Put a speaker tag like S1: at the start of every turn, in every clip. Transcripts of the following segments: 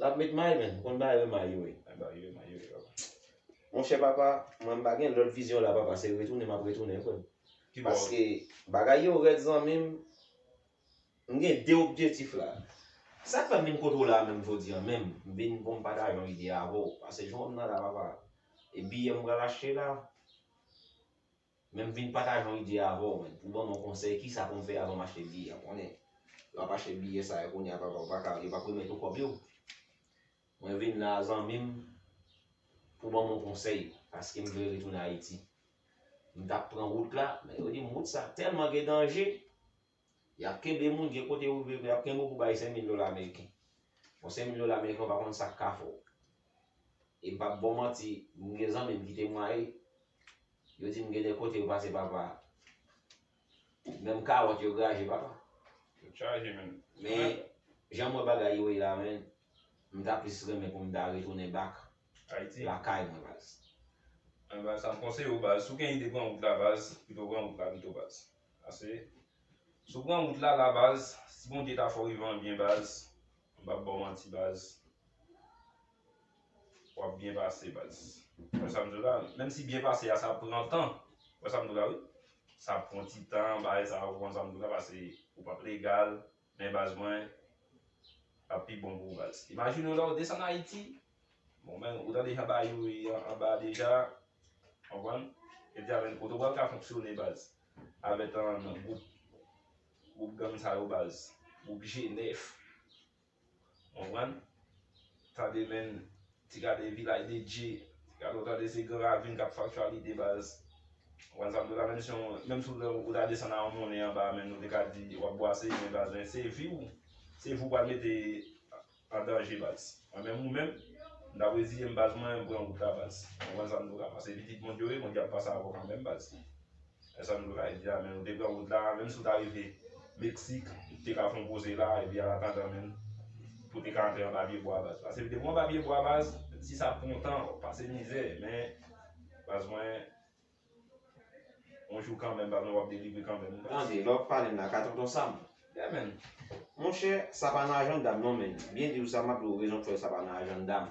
S1: Lap met may menn, konn bay yo may yo e. Bay bay yo may yo e papa.
S2: Monchè
S1: papa, mwen mpa gen lòt vizyon la papa se retounen map retounen frèm. Paske bagay yo rèd zanmim, mgen 2 objetif la. Sak fèm vin kote w la menm jodi an menm, mvin poum pataje yon ide avèw, pase jwenn mwen nan la papa. E biyè m pral achte la. Men m vin pataje yon ide avè w men, pou w ban mwen yon konsèy kisa pou m fè avan m achte biyè a konnen lè w ap achte biyè sa yo kounye a papa ou pa ka yo pa p remèt ou kòb yo mwen vin la a zanmi m pou w ban mwen yon konsèy paske m vle retounen Ayiti m t ap pran wout la men yo di m wout sa tèlman gen danje. Yap kenbe moun gen kote ou rive epi yap kenbe w pou bay 5000 dola ameriken. Bon 5000 dola ameriken ou pa konn sak ka fè w. E m pap ba w manti, m gen zanmi m ki temwaye, yo di m gen de kote yo pase papa, menm kawòt yo graje papa. Yo chaje menn.
S2: Men
S1: jan m wè bagay yo ye la menn, m ta plis renmen pou m ta retounen back Ayiti. lakay
S2: mwen baz.
S1: Anba sa
S2: m konseye w baz, si w gen ide pran wout la baz, pito w pran wout la pito baz. Pase Si w pran wout la la baz Si Bondye ta fè w rive an byen baz M pap ba w manti baz W ap byen pase baz Ou wè sa m di w la Menm si byen pase a sa pran tan Ou wè sa m di w la wi Sa pran ti tan bagay sa a Ou konprann sa m di w la Pase ou pap legal Men baz mwen ap pi bon pou ou baz. Imajine w la ou desann Ayiti, bon men ou tande jan bayo ye anba a deja, konprann? Epi avèn kote ou pral ka fonksyone baz? Avètan gwoup gwoup gang sa yo baz, gwoup G9. Konprann? Tande menn ti gade vilaj de dye, ti gade w tande se gran ravin k ap faktyalite baz. Konprann sa m di w la menm si yon menm si w lè w ta desann a yon monnen anba menn nou te ka di w ap bwase men baz men se vi w se vi w pral mete an danje baz. Mwen menm ou menm m ta reziye m baz mwen pran wout la baz. Konprann sa m di w la paske pitit Bondye w ye Bondye ap pase avè w kanmenm baz. E sa m te bay li a men ou te pran wout la menm si w ta rive mexique ou te ka fè yon poze la epi an atandan menm pou te ka antre anba pye bwa baz paske depi w anba pye bwa baz menm si sa pran tan wap pase mizè men baz mwen yon jou kanmenm baz mwen wap delivre kanmenm baz. Tande lè wap pale m la ka
S1: tonton sam. Yeah man.
S2: Monchè
S1: sa pa nan ajanda m non men byen di w sa map di w rezon k fè sa pa nan ajanda m.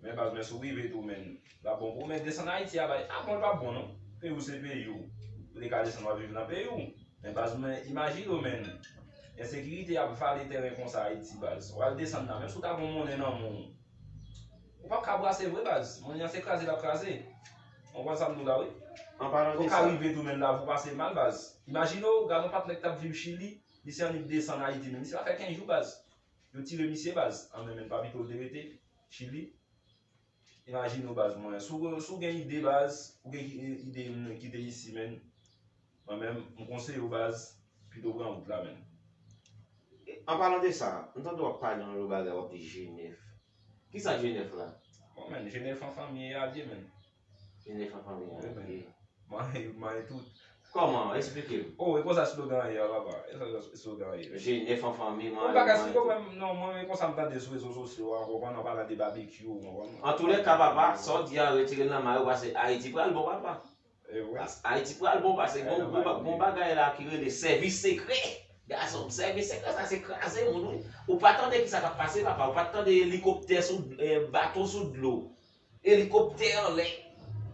S2: Men baz mwen sou prive tou men lap bon pou ou men desann ayiti a bay a bon li pap bon non peyi ou se peyi ou ou te ka desann wap viv nan peyi ou men baz mwen imajine ou men ensekirite ap vale tèren konsa ayiti baz wal desann la menm si ou ta gon monnen nan men ou ou pap ka brase vre baz monnen an se kraze lap kraze ou konprann sam diw la wi ou ka
S1: rive tou men lavi ou
S2: pase mal baz imajine ou gad yon patnè ki tap viv chili misye annik desann ayiti men misye pa fè 15 jou baz yo tire misye baz an men men pa pito li te rete. Chili. Imajine w baz mwen. Si w gen ide baz, ou gen ide yon ki te isi menn, mwen menm, m konseye w baz, pito w pran wout la menn.
S1: An palan de sa, m tande w ap pale yon lòt bagay, w ap di Jenèf. Kisa Jenèf la? Bon menn, Jenèf
S2: an fanmi e alye menn. Jenèf an fanmi
S1: an ok. Mare
S2: yo mare tout. Kòman? Esplike
S1: m. Oh e konsa slogan an
S2: ye a papa? E konsa slogan an ye? Jenèf an fanmi, mare yo mare
S1: tout. Bon bagay se pou mwen,
S2: non mwen e konsa m tande sou rezo sosyo a ou konprann an palan de babekyou ou konprann. Antoulèka
S1: papa, sa w di a retire l nan mare w pase Ayiti pral bon papa. E wi. Ayiti pral bon pase gon bagay la ki rele sèvis sekrè gason m. Sèvis sekrè sa se kraze moun wi. Ou pa tande kisa k ap pase papa, ou pa t tande elikoptè sou, bato sou dlo. Elikoptè anlè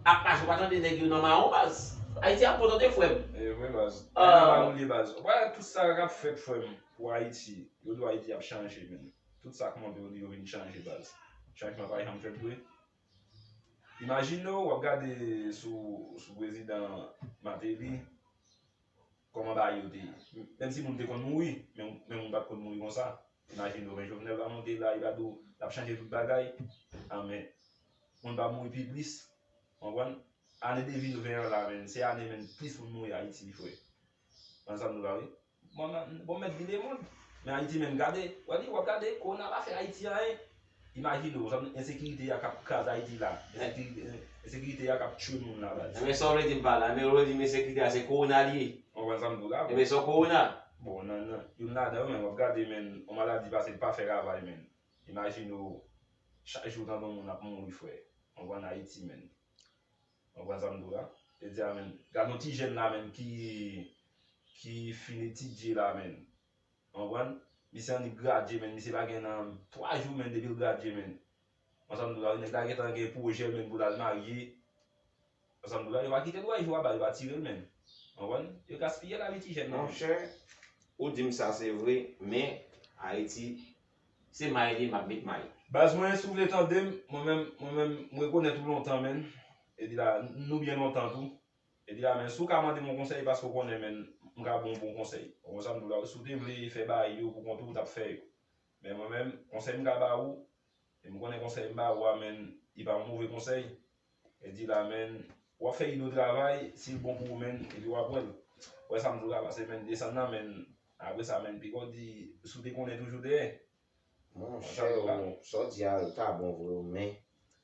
S1: ap mache ou pa tande nèg yo nan mawon baz. Ayiti ap bon tande frèm. Ewen baz.
S2: Ayiti pa boule baz. Ou pa wè tout sa kap fèt frèm pou ayiti. Yo di w ayiti ap chanje men tout sa k monte yo di yo vin chanje baz. Chanjman pa janm fèt vre. Imajine w wap gade sou prezidan mateli. Koman bagay yo te ye. Menm si moun te konn mouri, men moun pat konn mouri konsa. Imajine w men Jovenel va monte la, li va di w lap chanje tout bagay. An men, moun pa mouri pi plis. Konprann? Ane 2020 an la menm, se ane menm plis moun mouri Ayiti wi frè. Konn sa m di w la wi. Bon, mèt di lemond. Men Ayiti menm gade, wè li, wap gade, Kowona pa fè Ayiti anyen. Imajine w jan ensekirite ya kap kraze Ayiti la, ensekirite ya kap tchwe moun la baz. Enben sa w vle di m pa la,
S1: enben w vle di m ensekirite ya se kowona li ye? M konprann sa m di w la. Enben
S2: sa w kowona?
S1: Bon nan nan
S2: youn ladan yo men wap gade men yon maladi pase pa fè ravay men imajine w chak jou w tande yon moun ap mouri frè anvan an Ayiti men. M konprann sa m di w la. Jodi ya men gade yon ti jèn la men ki ki fin etidye la men Konprann? Misye annik gradye menn, misye pa gen nan 3 jou menn depi l gradye menn. Ou konn sa m di w la wi, nèg la gentan gen pwojè menn pou l al marye. Ou konn sa m di w la, yo pa kite l wè jou a ba, yo pa tire l menn. Ou konprann? Yo gaspiye lavi ti jèn nan menn. Monchè,
S1: ou di m sa se vre, men Ayiti se may li m ap met may. Baz mwen, si w vle
S2: tande m, mwen menm, mwen menm, m rekonèt ou lontan menn, epi la, nou byen lontan tou. Epi la menm si w ka mande m yon konsèy e paske w konnen menn m ka ba w yon bon konsèy. Ou konprann sa m di w la wi. Si w te vle fè bagay yo pou kont ou, w t ap fè yo. Men mwen menm, konsèy m ka ba ou, e m konnen konsèy m ba ou a menn li pa yon move konsèy, epi la menn w ap fè ide w travay, si l bon pou ou menn epi w ap wè l. Ou wè sa m di w la pase menn desann nan menn apre sa menn pika w di si w te konnen toujou dèyè. Monchè,
S1: sa w di a ta bon vre wi men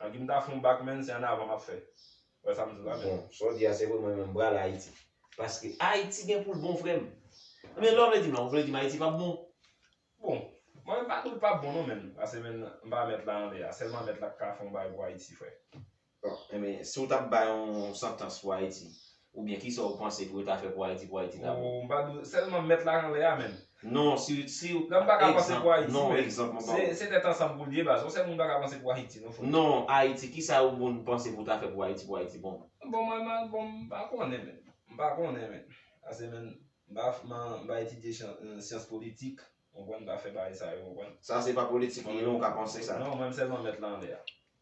S2: An gin ta fon bak menn se an avan map fè. Wè sam di la menn. Bon, sa w di a se vre mwen
S1: menm m pral Ayiti. Paske Ayiti gen pou l bon frè m. Men lè w vle di m la, w vle di m Ayiti pap bon? Bon,
S2: mwen menm m pa di w l pap bon non menn, pase menn m pa mèt la anlè a, sèlman mèt la k ka fon bagay pou Ayiti frè. Bon, enben
S1: si w tap bay yon santans pou Ayiti, Ou byen kisa ou panse pou yo ta fè pou Ayiti pou Ayiti ta bon? Sèlman
S2: mèt la anlè a menm. Non, si ou, si
S1: ou, egzanp, non, egzanp
S2: mwen ba ou.
S1: Se tèt ansanm
S2: pou l ye baz. Yon sèl moun pa ka panse pou Ayiti non frè. Non, Ayiti, kisa
S1: ou moun panse pou ta fè pou Ayiti pou Ayiti bon? Bon mwen, mwen, bon
S2: m pa konnen menm. M pa konnen menm. Ase menm, m pa, m pa etidye syans politik. Ou konprann, m pa fè bagay sa yo, ou konprann. Sa se pa politik li
S1: non, ou ka panse sa. Non, mwen m sèlman mèt la anlè
S2: a.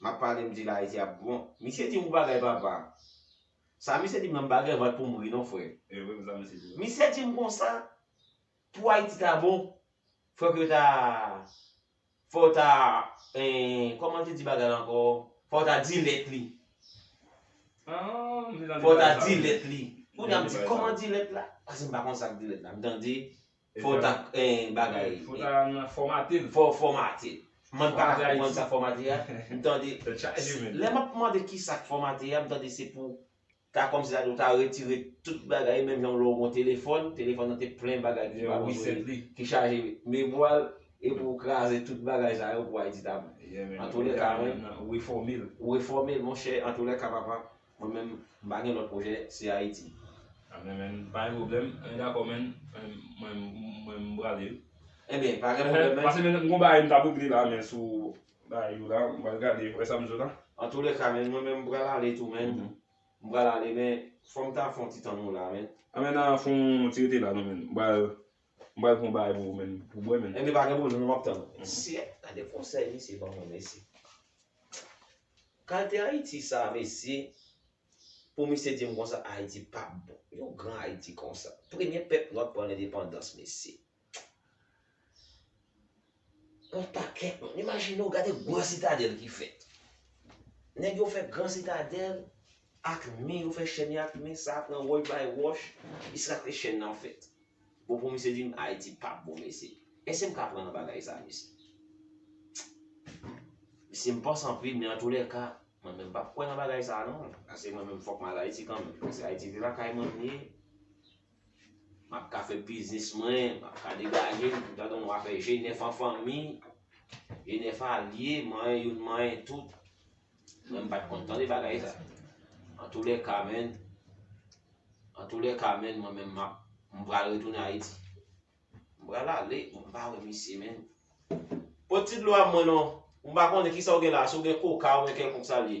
S1: Map pale m di la ayiti ap bon. Misye di ou bagay papa. Sa misye dim nan m pa gen vant poum ri non frè.
S2: Misye dim konsa
S1: pou ayiti ta bon fòk yo ta fòw ta kòman l te di bagay la ankò fòw ta di lèt li. Fòw ta di lèt li. Kounya m di kòman di lèt la. Pase m pa konn sak di lèt la. M tande. Fò w ta gen bagay. Fò w ta nan
S2: fòmate l. Fò w fòmate l.
S1: Mwen pa ka konprann sa fòmate a. M tande. Tèt chaje menn. Lè m ap mande ki sa k fòmate a, m tande se pou ta kòmsi ta di ou ta retire tout bagay menm jan lè w gen yon telefòn, telefòn nan te plen bagay ki pa bezwen li, ki chaje memwa l epi ou kraze tout bagay sa yo pou Ayiti ta bon. Antoulèka mwen. Ou refòme l. Ou refòme l monchè antoulèka papa. Mwen menm m pa gen lòt pwojè se ayiti. Amen man
S2: pa gen problem mwen dakò man mwen mwen m prale wi. Ebyen pa gen
S1: pwoblem man. Pase men m gon bagay m tap
S2: regle la man sou bagay yo la m pral gade wè sam jwenn la. Antoulèka man mwen
S1: menm m pral ale tou man m pral ale men fòm ta fon ti tann ou la man. Amen nan fon
S2: ti rete la non man m pral M pral pran yon bagay pou ou menn pou bwè menn. Ebyen pa gen pwoblèm map tann
S1: ou. Sièt, gade konsèy misye ban
S2: mwen
S1: mesye. Kalte Ayiti sa mesye, pou misye dim konsa Ayiti pap bon. Yon gran Ayiti konsa. Premye pèp nwa pran lendepandans mesye. Yon pakèt moun. Imajine w gade gran sitadèl ki fèt. Nèg yo fè gran sitadèl ak mi, yo fè chèn yo ak mi, sa pran wòch bay wòch, jiska ke chèn nan fèt. Bon pou misye di m Ayiti pap bon mesye. Èske m ka kwè nan bagay sa mesye? Mesye m panse anpil men antoulèka, mwen menm m pap kwè nan bagay sa non. Paske mwen menm fòk m al Ayiti kanmenm. Paske Ayiti se lakay mwen m ye. Map ka fè biznis mwen, map ka degaje m, pou tande yon moun ap fè je nèf an fanmi, je nèf alye, manyen youn manyen tout. Mwen m pat konn tande bagay sa. Antoulèka menn, antoulèka menn mwen menm map, m pral retounen Ayiti. M pral ale, m pa wè misye menm. Pot ti dlo a m mwen non, m pa konnen kisa w gen la, si w gen koka oubyen kèlkonk sa l ye.